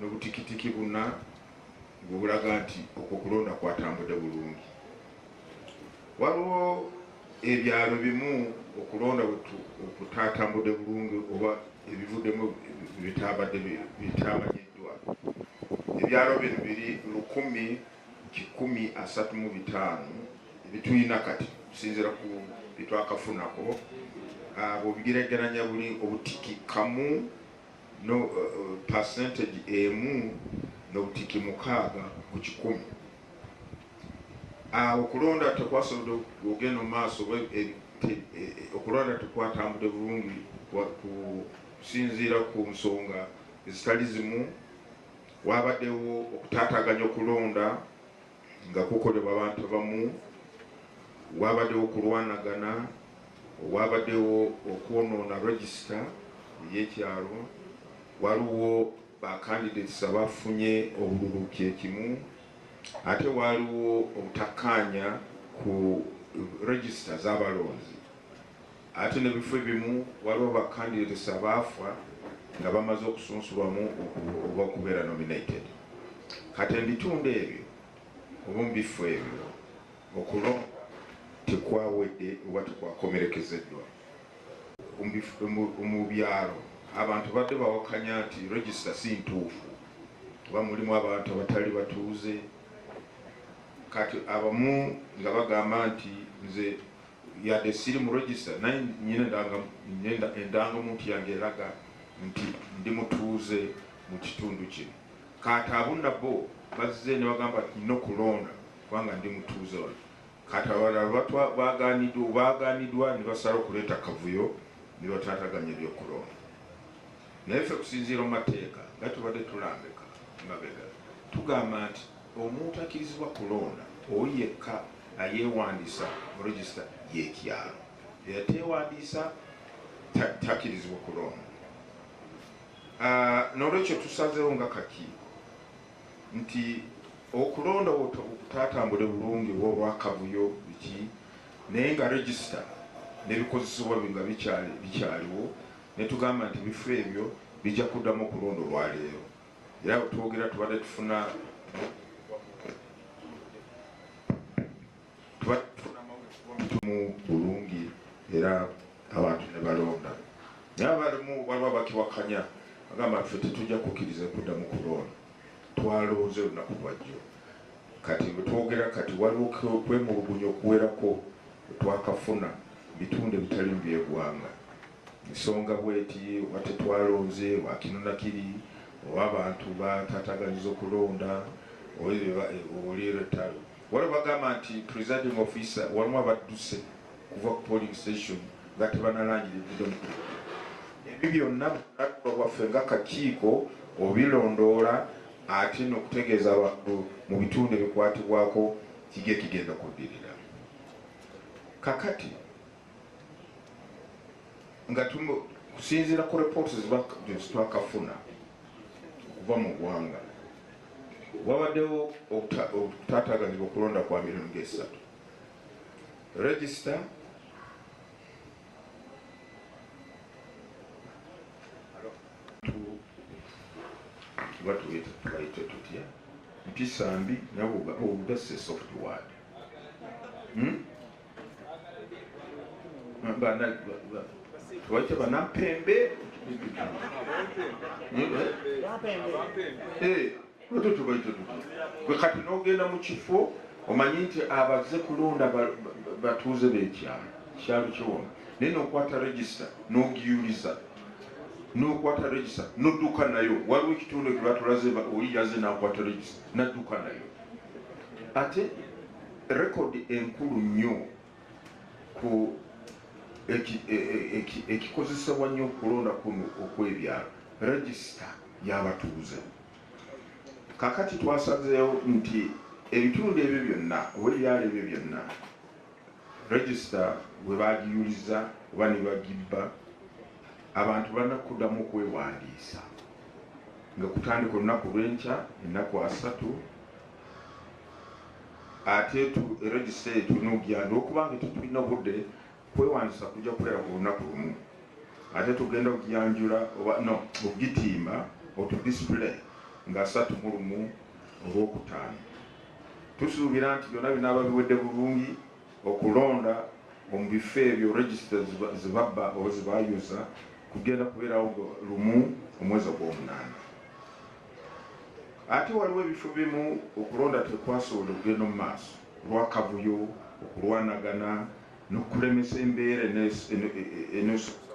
Nobutikitiki buna bwe bulaga nti okwo kulonda kwatambude bulungi. Waliwo ebyalo bimu okulonda okutatambude bulungi oba ebivudemu bitabadde bitamanyiddwa. Ebyalo bino biri lukumi kikumi asatu mu bitaano ebituyina kati okusinzira ku byetwakafunako bwobigeregeranya buli obutiki kamu. no percentage emu nobutiki mukaaga ku kikumi. Awo okulonda tekwasobodde ogenda mu maaso, okulonda tekwatambudde bulungi kusinziira ku nsonga ezitali zimu, waabaddewo okutaataaganya okulonda. nga kukolebwa abantu abamu wabadewo okulwanagana wabadewo okwonoona register eyekyalo waliwo ba candidates abafunye obululu kyekimu ate waliwo obutakkaanya ku register zabalonzi Ate ne bifo ebimu waliwo ba candidates abaafa nga bamaze okusunsulwamu oba okubeera nominated. Kati ebitundu ebyo oba mu biffo ebyo okulonda tekwawedde oba tekwakomerekezeddwa. Mu byalo abantu badde bawakanya nti register si ntuufu kuba mulimu abantu abatali batuuze kati abamu nga bagamba nti nze Yadde siri mu register naye nina endangamuntu yange eraga nti ndi mutuuze mu kitundu kino. Kati abo nabo bazze ne bagamba nti nina okulonda kubanga ndi mutuuze wano. Kati abalala baagaanidwa ne basalawo okuleeta akavuyo ne bataataganya eby'okulonda. Naye ffe kusinziira mu mateeka nga tubadde tulambika emabega tugamba nti omuntu akirizibwa kulonda oyo yekka ayewandiisa mu register yekyalo eyatewandiisa takirizibwa kulonda. Ah, nolwekyo tusazewo nga kakiiko nti okulonda okutatambule bulungi olwakavuyo biki naye nga register nebikozesebwa nga bikyaliwo netugamba nti ebifo ebyo bijja kuddamu okulonda olwaleero era wetwogera tubadde tufuna tumu bulungi era abantu nebalonda naye abalimu waliwo abakiwakanya agamba ffe tetujja kukiriza kuddamu kulonda twalonze olunaku lwajjo kati wetwogera kati waliwo kwemulugunya okuwerako twakafuna bitundu ebitalimu byegwanga Nsonga bweti oba tetwalonze wakino nakiri oba abantu batataganyiza okulonda oli lutalo waliwo bagamba nti presiding officer waliwo abadduse kuva ku polling station nga tebanalangira ebido ebyo byonna bulaluba bwaffe nga kakiiko obilondoola ate nokutegeeza abantu mu bitundu ebikwatibwako kiki ekigenda kuddirira kakati nga kusinziira ku reports zitwakafuna okuva mu ggwanga wabaddewo okutaataganyibwa okulonda kwa mirundi ngaesatu regisita batuyita tubayite tutya mpisa mbi nabwo obudassa esoft ward hmm? waite vanampembe kati nogenda mu kifo omanyi nti abaze kulonda batuuze bekyalo kyalo kiwona naye nokwata regisita nogiyuliza nokwata regisita nodduka nayo waliwo ekitundu ekibatulaze oli yaze nakwata regisita nadduka nayo ate Record enkulu nnyo ku ekikozesebwa nnyo okulonda kuno okwebyalo regisita y'abatuuze. Kakati twasazeewo nti ebitundu ebyo byonna oba ebyalo ebyo byonna regisita bwe bagiyuliza oba ne bagibba abantu balina kuddamu okwewandiisa nga kutandika olunaku lw'enkya ennaku asatu ate tu register tulina okugenda olwokuba nti tetulina budde kwewandiisa kujja kubeera ku lunaku lumu ate tugenda okugiyanjula oba no okugitimba otu display nga asatu mu lumu olwokutaano tusuubira nti byonna binaaba biwedde bulungi okulonda omu bifo ebyo register zibabba oba zibayuza kugenda kubeerawo lumu omwezi ogwomunaana Ate waliwo ebifo bimu okulonda tekwasobola kugenda mu maaso lwa kavuyo, okulwanagana n'okulemesa embeera eneesobza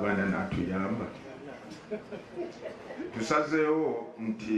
bannalonda okutuuka ku nsonga zino. Tusazeewo nti.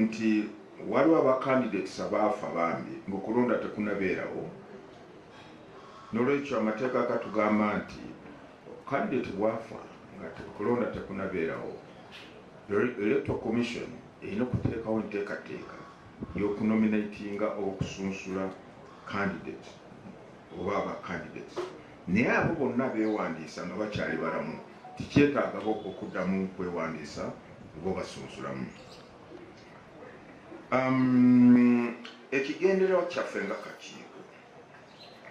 nti waliwo aba candidates abaafa bambi nga okulonda tekunabeerawo nolwekyo amateeka gatugamba nti candidate bwafa nga okulonda tekunabeerawo electoral commission erina okuteekawo enteekateeka yokunominatinga oba okusunsula candidate oba aba candidates naye abo bonna beewandiisa nga bakyali balamu tikyetaagabo okuddamu kwewandiisa oba obasunsulamu um, ekigendererwa kyaffe nga kakiiko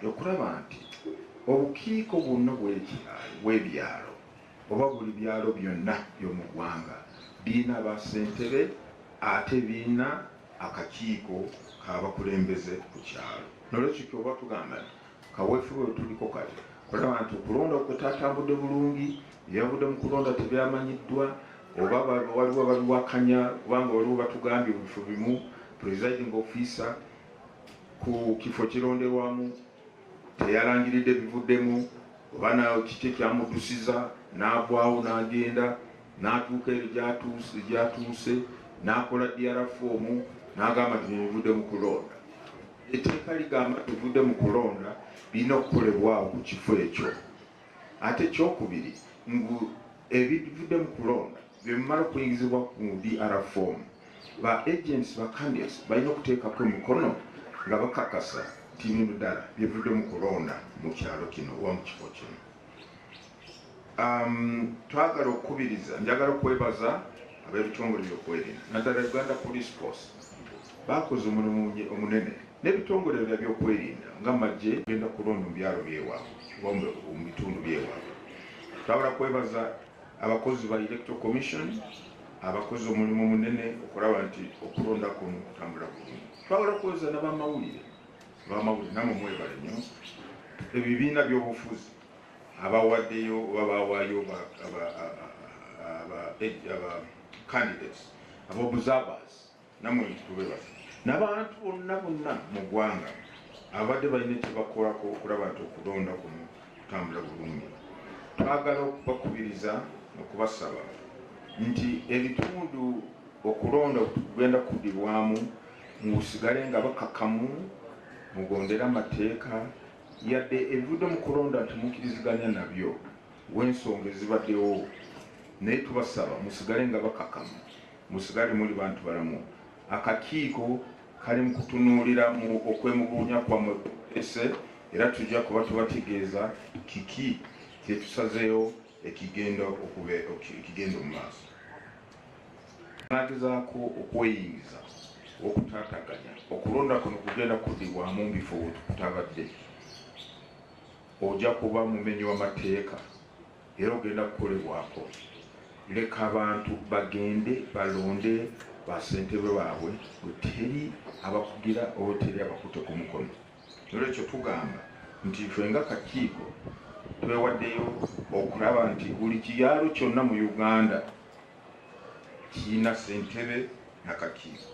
okulaba nti obukiiko bwonna bwekyalo bwebyalo oba buli byalo byonna byomugwanga birina basentebe ate birina akakiiko k'abakulembeze ku kyalo nolwekyo kyoba tugamba nti kaweefube wetuliko kati kulaba nti okulonda okutatambudde bulungi byavudde mu kulonda tebyamanyiddwa oba waliwo babiwakanya kubanga waliwo batugambye mu bifo bimu presiding officer ku kifo kironderwamu Teyalangiridde bivuddemu oba na kiki ekyamuddusiza n'agwawo n'agenda n'atuuka eri gy'atuuse n'akola DR foomu n'agamba nti bivudde mu kulonda. Etteeka ligamba bivudde mu kulonda birina okukolebwawo ku kifo ekyo. Ate ekyokubiri mbu ebivudde mu kulonda bwebimala okuyingizibwa ku DR form, ba agents ba candidates balina okuteekako emikono nga bakakasa nti bino ddala byebivudde mu kulonda mu kyalo kino oba mu kifo kino. Um, twagala okukubiriza, njagala okwebaza ab'ebitongole byokwerinda naddala Uganda Police Force Baakoze omulimu omunene n'ebitongole bya byokwerinda nga magye. Tugenda kulonda mu byalo by'ewaabwe oba mu bitundu by'ewaabwe. Twagala kwebaza abakozi ba Electoral Commission abakoze omulimu munene okulaba nti okulonda kuno kutambula bulungi. Twagala kwebaza n'abamawulire abamawulire namwe mwebale nnyo ebibiina by'obufuzi abawaddeyo oba bawaayo aba candidates abobuzabaazi namwe nti tube basa nabantu bonna bonna mu ggwanga ababadde balina kyebakolako okulaba nti okulonda kuno kutambula bulungi twagala okubakubiriza okubasaba nti ebitundu okulonda kugenda kudirwamu musigale nga bakakamu mugondera amateeka yadde ebivudde mu kulonda nti mukiriziganya nabyo wensonga ezibaddewo naye tubasaba musigale nga bakakamu Musigale muli bantu balamu. Akakiiko kali mu kutunuulira mu okwemubuunya kwammwe kwe muleese era tujja kuba tubategeeza kiki kye tusazeewo ekigenda okube ekigenda mu maaso. Anaagezaako okweyingiza okutaataganya okulonda kuno kugenda kuddibwamu mu bifo we kutabadde, ogya kuba mumenyi w'amateeka. era ogenda kukolebwako leka abantu bagende balonde basentebe baabwe weteri abakugira oweteri abakute ku mukono nolwekyo tugamba nti fe nga kakiiko twewaddeyo okulaba nti buli kiyaalo kyonna mu uganda kirina sentebe nakakiiko